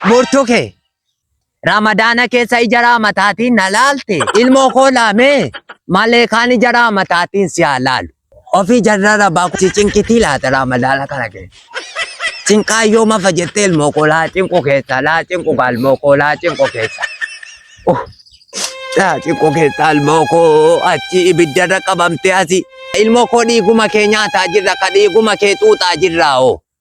Murtu kee. Ramadaana keessa ija raamataatiin na laalte. Ilmoo koo laamee. Malee kaan ija raamataatiin si haa laalu. Ofii jarra rabaa si cinqitii laata raamadaana kana keessa. Cinqaa yoo mafa jettee ilmoo koo laa cinqu keessa laa cinqu gaa ilmoo koo laa cinqu keessa. Oh. Laa cinqu keessa ilmoo koo achi ibiddarra qabamtee asi. Ilmoo koo dhiiguma kee nyaataa jirra ka dhiiguma kee xuuxaa jirraa oo.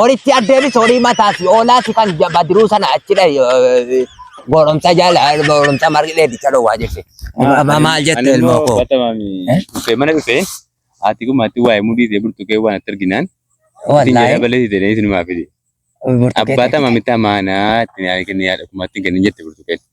Horitti addeebis horii mataa si oolaa si kan ja- badiruu sana achi dhahi eh, gooromsa jala gooromsa margi dheedicha dhowwaa jirti. Ma- ma- Maal jette ilmoo koo? Eh? Dhufee mana dhufee haati kun maatii waa'ee mudii ta'e burtukee waan itti arginaan ittiin jedhaa Wallaahi balee ta'e isinumaa fide. burtukee Abbaa ta'e. tama mitaa maanaa ittiin yaada kenna yaada kumaatti hin kennin jette burtukeen.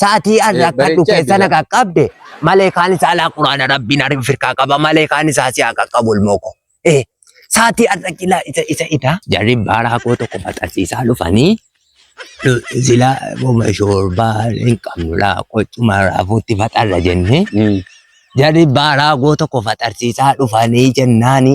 Sa'atii an rakkadhu keessa na qaqqabde malee kaan isaa alaa quraana rabbiin ariin firkaa qaba malee kaan isaa si haa qaqqabu ilmoo koo. Eh, Sa'atii an rakkilaa isa isa ita jarri baaraa koo tokko maxxansiisaa dhufanii sila boma shoorbaa hin qabnu laa qoccuma raafuutti faxarra jennee jarri baaraa koo tokko faxarsiisaa dhufanii jennaani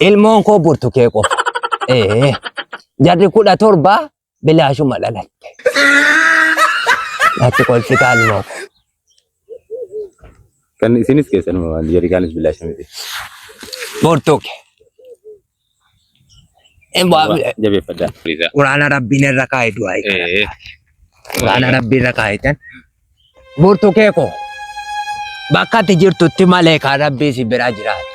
Ilmoon koo burtukee qofa. Ee, jarri kudha torba bilaashuma dhalatte. Natti kolfitaa ilmoo koo. Kan isinis keessanuma waan jarikaanis bilaasha miti. Burtuke. Emaa Jabeeffadhaa. Quraana rabbiin irra kaa'e du'aa eeggata. Ee. Quraana rabbii irra kaa'etan Burtukee koo bakka ati jirtutti malee kaa rabbii si bira jiraatu.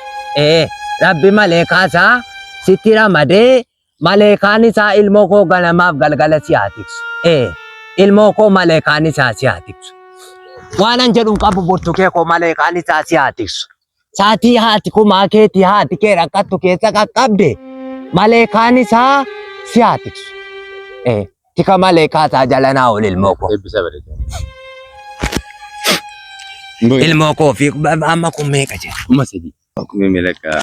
Ee rabbi malee kaasaa sitti ramadee malee kaan isaa ilmoo koo ganamaaf galgala si haa tiksu. Ee ilmoo koo malee kaan isaa si haa tiksu. Waanan jedhuun qabu burtukee koo malee kaan isaa si haa tiksu. Saatii haati kumaa keetii haati kee rakkattu keessa qaqqabde maleekaan isaa si haa tiksu. Eh, Tika maleekaa isaa jala naa ol ilmoo koo. Eebbisa bareedaa. Ilmoo koo fi amma kun meeqa jira? Kuma sadii. Kuma meeqa?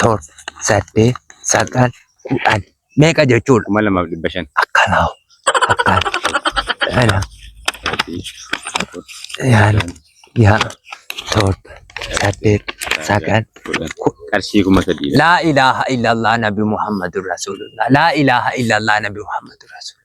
torba, saddeet, sagal, kudhan meeqa jechuudha? Kuma lamaaf dhibba shan. Akkanaa akkaan kana yaala yaa torba saddeet sagal qarshii kuma sadii. Laa ilaaha illallah nabi Muhammadur Rasulullah. Laa ilaaha illallah nabi Muhammadur Rasulullah.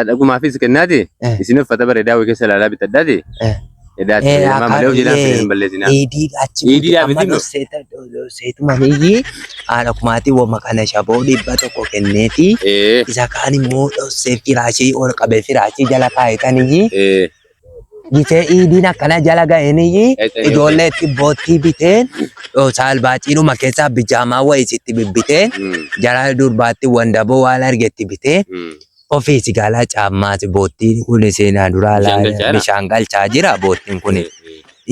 Adhagumaafis kennaati. Eh. Isin uffata bareedaa wayii keessa ilaalaa bitadhaati. Eh. Edaatti Eh, fayyadamaa malee of jedhaan akaakilee. hin balleessinaa. Eedii achi Eedii buute amma dhaabbitiin dhufseeta seetuma niyyi haadha kumaatii wama kana shaboo dhibba tokko kenneefi Ee. isa kaan immoo dhossee firaashii ol qabee firaashii jala kaa'etaniyyi Ee. Gitee iidiin akkana jala ga'eenii ijoollee itti boottii biteen saalbaaxiidhuma keessaa bijaamaa wayii sitti bibbiteen jara durbaatti wandaboo waan argetti bitee ofii si gaalaa caammaati boottiin kun seenaa duraa Bishaan galchaa jira? bishaan galchaa jira boottiin kun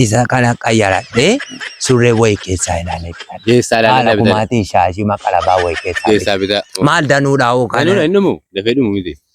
isa kana qayyaradhee surree wayii keessaa ilaalee jira. Keessaa Haala ilaalaa bitaa. kumaatiin shaashii maqalabaa wayii keessaa bite. Keessaa bitaa. Maal danuudhaa hoo Kan kana? inni dhumu dafee dhumu miti.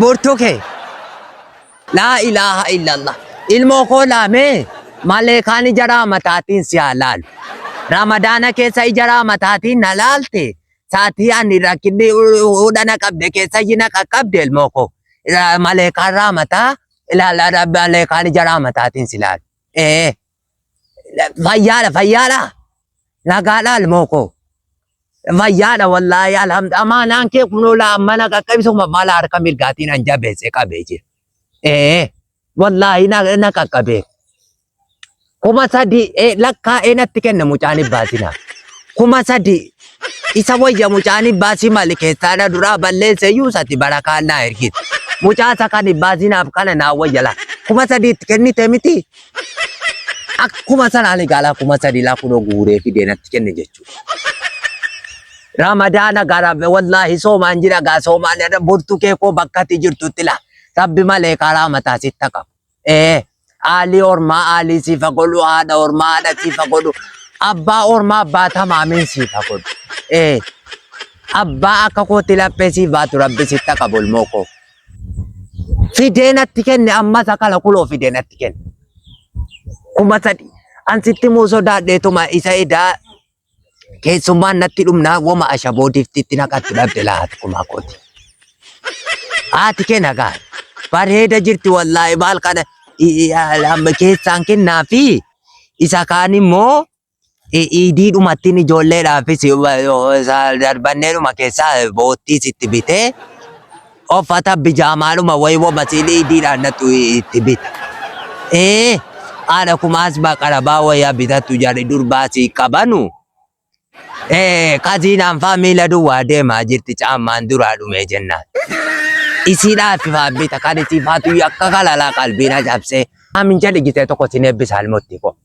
Bortuu kee. Laa ilaaha illallah. Ilmoo koo laamee maleekaan ija raamataatiin si haa laalu. Ramadaana keessa ija raamataatiin na laalte saatii ani rakkinni hudha na qabde keessa iji na qaqqabde ilmoo koo. Ra- Maleekaan raamataa ilaala ra- maleekaan ija raamataatiin si laalu. Ee. fayyaadha fayyaadha nagaadha ilmoo koo fayyaadha wallaahi alhamdu amaanaan kee kunoo laa mana qaqqabisa kuma mala harka mirgaatiin an jabeesse qabee jira ee wallaahi na na qaqqabee kuma sadi ee lakkaa ee natti kenna mucaan ibbaatina kuma sadi isa wayya mucaan ibbaasii mali keessaadha duraa balleesse iyyuu sati barakaan naa ergite mucaa isa kan ibbaasinaaf kana naa wayya laa kuma sadiitti kennite miti Akkuma sanaan egaa laa kuma sadii laa kunoo guuree fidee natti kenne jechuudha. Ramadaana gara wallaahi soomaan jira gaa soomaan jedha burtu kee koo bakka ati jirtutti laa rabbi malee karaa mataa sitti haa qabu. Ee aalii ormaa aalii siif haa godhu haadha ormaa haadha siif haa godhu abbaa ormaa abbaa tamaamiin siif haa godhu. Ee abbaa akka kootti laphee siif baatu rabbi sitti haa qabu ilmoo koo. Fidee natti kenne amma sakala kuloo fidee natti kenne. Kuma sadi. An sitti muu sodaadheetuma isa edaa keessummaan natti dhumnaa woma ashaboo diftitti naqatti dhabde laati kumaa kooti. Haati kee nagaa. Bareeda jirti wallaahi maal kana i- i- amma keessaan kennaa fi isa kaan immoo iidii dhumattiin ijoolleedhaafis darbanneedhuma keessaa boottiis itti bitee uffata bijaamaadhuma wayii wamasiin iidiidhaan nattu itti bita. Ee haadha kumaas baqarabaa wayaa bitatu jedhe durbaa sii qabanu. Ee kaziinaan faa miila duwwaa deemaa jirti caammaan duraa dhumee jennaan. Isiidhaaf faa bita kan isii faatu akka kalalaa qalbiin ajabsee. Amin jedhe gitee tokko sin eebbisa almotti koo.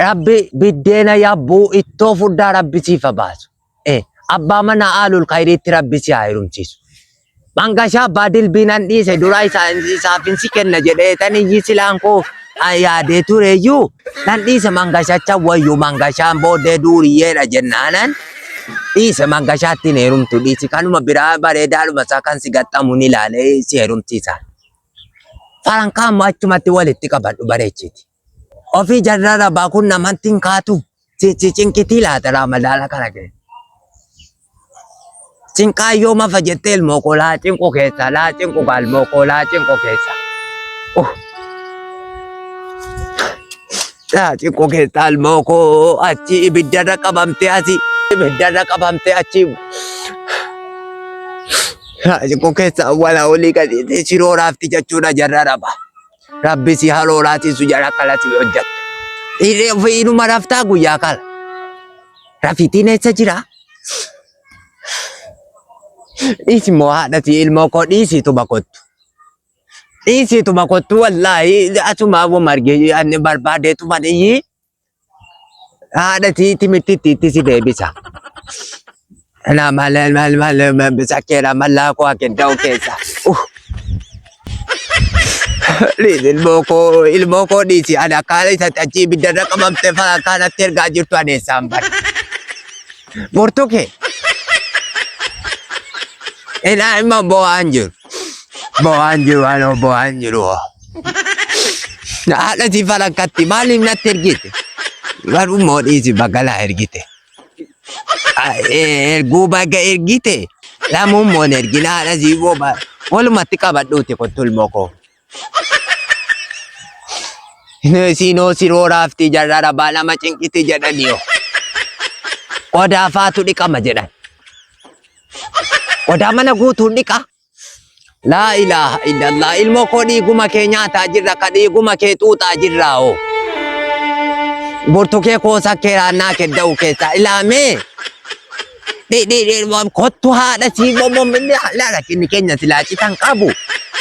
Rabbi biddeena yabbuu ittoo furdaa rabbi siif haa baasu. Eh, Abbaa manaa aalul kayriitti rabbi si haa heerumsiisu. Mangashaa abbaa dilbiinan dhiise duraa isaa- isaaf hin si kenna jedhee tan iyyi silaan koo ah, yaadee tureeyyuu nan dhiise mangashacha wayyu mangashaan booddee duuriyyeedha jennaanan dhiise mangashaatti hin heerumtu dhiisi kanuma biraa bareedaadhuma isaa kan si gaxxamu ni ilaalee si heerumsiisa. Farankaa immoo achumatti walitti qabadhu bareechiti. Ofii jarrara baakun namanti hin kaatu. Si si cinqitii laata raamadaana kana kee. Cinqaa yoo mafa jettee ilmoo koo laa cinqu keessa laa cinqu kaa ilmoo koo laa cinqu keessa. Uh. Laa cinqu keessa ilmoo koo achi ibiddarra qabamtee asi ibiddarra qabamtee achi. Raajikoo keessa awwala olii gadiitii shiroo raafti jechuudha jarra raba. Rabbi si haloo laatiisu jara kala si hojjette. Irree ofii inuma raftaa guyyaa kala. Rafiitiin eessa jira? Dhiisi moo haadhati ilmoo koo dhiisiitu bakottu. Dhiisiitu bakottu wallaahi asuma wama argee ani barbaadeetu maniyyii. haadha tii timitti itti itti si deebisa. Anaa maal maal maal bisa keera mallaa koo akedda'u keessa. Uh. Dhiisi ilmoo koo ilmoo koo dhiisi ani akkaan isa achi ibidda irra qabamte fa'aa akkaan atti ergaa jirtu ani eessaan bara. Murtuu kee. Ilaa ilma bo'aan jiru. Bawaan jiru anoo bawaan jiru. Haadha si falakkatti maaliif natti ergite? Garuu moo dhiisi bakka naa ergite. Erguu bakka ergite lamuun moon ergina haadha si booba. Walumatti qabadhuuti kottu ilmoo koo. Siinoo siroo raaftii jarraa rabaa nama cinqiti jedhan yoo. Qodaa faatu dhiqama jedhan. Qodaa mana guutuun dhiqa. Laa ilaaha illallah ilmoo koo dhiiguma kee nyaataa jirra ka dhiiguma kee xuuxaa jirraa oo. Burtukee koo sakkee raannaa kedda'u keessaa ilaamee. Dhi dhi dhi waan kottu haadha sii womom inni laala inni keenya silaa citan qabu.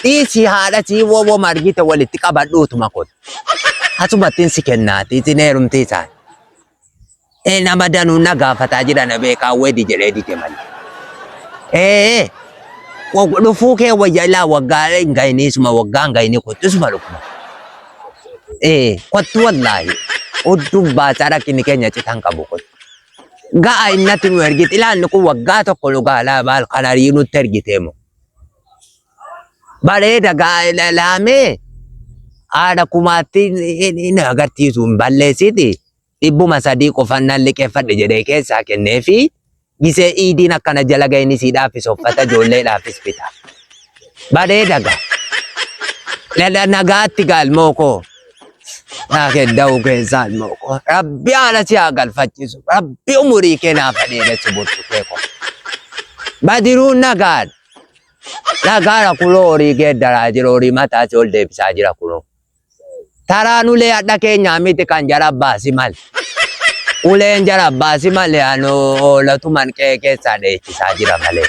Dhiisi haadha sii womom argite walitti qabadhuutuma kottu. Asumattiin si kennaati isin heerumtii isaan. Ee nama danuu na gaafataa jira na beekaa wedi jedhee dide malee. Ee wag- dhufuu kee wayya ilaa waggaa hin ga'inii suma waggaa hin ga'inii kottu isuma dhufuma. Ee kottu wallaahi. Udduun baasaa rakkinni keenya citan qabu kottu. Ga'a innatti nu ergite ilaalli kun waggaa tokko nu gaalaa baal kan arii nutti ergite moo. Bareeda gaa'ela laamee haadha kumaatti hin agarsiisu hin balleessiti dhibbuma sadii qofan nan liqeeffadhe jedhee keessaa kennee fi gisee iidiin akkana jala ga'een isiidhaaf soffata ijoolleedhaafis bita. Bareeda ga'a. Nagaatti gaalmoo koo. Yaa kedda'uu keessaa ilmoo koo. Rabbi haala si haa galfachiisu. Rabbi umurii kee naaf haa dheeressu bultu kee koo. Badiruun nagaan. Nagaara kunoo horii geeddaraa jira horii mataa si ol deebisaa jira kunoo. Taraan ulee hadha keenyaa miti kan jara baasi mali. Uleen jara baasi mali anoo oolatuman qe'ee keessaa dheechisaa jira malee.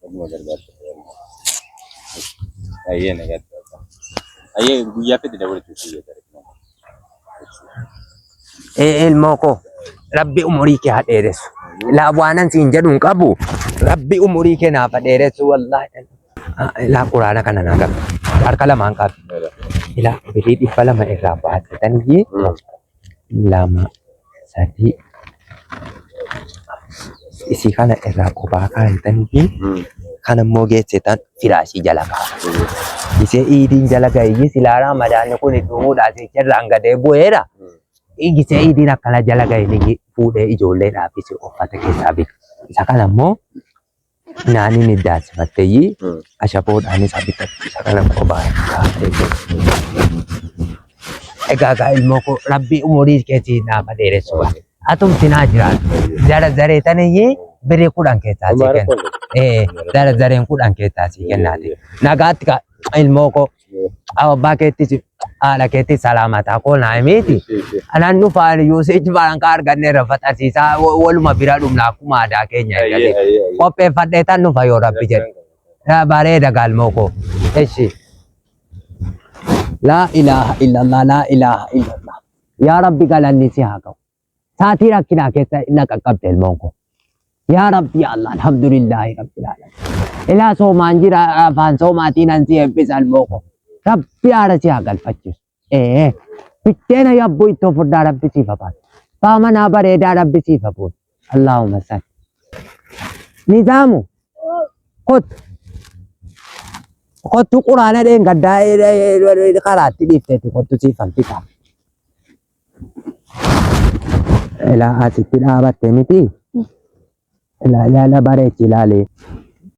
Dhuguma gargaarsa Ayyee na gargaarsa. Ayyee guyyaa fedhe dabaluutu si jedha. Ee ilmoo koo rabbi umurii kee haa dheeressu. Ilaa waanan siin jedhu hin qabu. Rabbi umurii kee naaf haa dheeressu wallaahi. Ah, Ilaa quraana kana naa qabu. Harka lamaan qabu. Ilaa birii dhibba lama irraa baattatanii lama sadii isii kana irraa kophaa kaayitaniifi kan immoo geessitan firaashii jala kaa'u. Isee iidiin jala ga'eeyyii silaaraa madaanni kun du'uudhaa jecha irraan gadee bu'eera. Isee iidiin akkana jala ga'e ni fuudhee ijoolleedhaafis uffata keessaa bita. Isa kana immoo Naani ni daasifatteeyyi ashaboodhaanis abitatte isa kana qobaa kaatee Egaa gaa ilmoo koo rabbii umurii keetii naafa dheeressu gaa. Atumti naa jiraatu. Zara zaree tanayyi birrii kudhan keessaa sii kenna. Ee zara zareen kudhan keessaa sii kennaati. Nagaatti gaa ilmoo koo. Awa abbaa keettis haadha keettis salaamaa ta'a koo naa himiiti. Anaan dhufaan yuuseej balaan kaa arganneerra faxarsiisaa waluma bira dhumna akkuma aadaa keenya eegatee. Qopheeffadhee tan dhufa yoo rabbi jedhe. Raa bareeda galmoo koo. Eshi. Laa ilaaha illallah laa ilaaha illallah. Yaa rabbi galanni si haa ga'u. Saatii rakkinaa keessa na qaqqabde ilmoon koo. Yaa Rabbi yaa Allah alhamdulillaahi Rabbi laalan. Ilaa soomaan jira afaan soomaatiin an si eebbisa ilmoo koo. Rabbi haara si haa galfachiisu. Ee bitteena yabbuu ittoo furdaa Rabbi siif hafaan. Baa manaa bareedaa Rabbi siif hafuun. Allaahumma salli. Nizaamu kottu. Kottu quraana dheengaddaa karaatti dhiifteetti kottu siif hanfisaa. Ilaa asitti dhaabatte miti. Ilaa ilaala bareechi ilaali.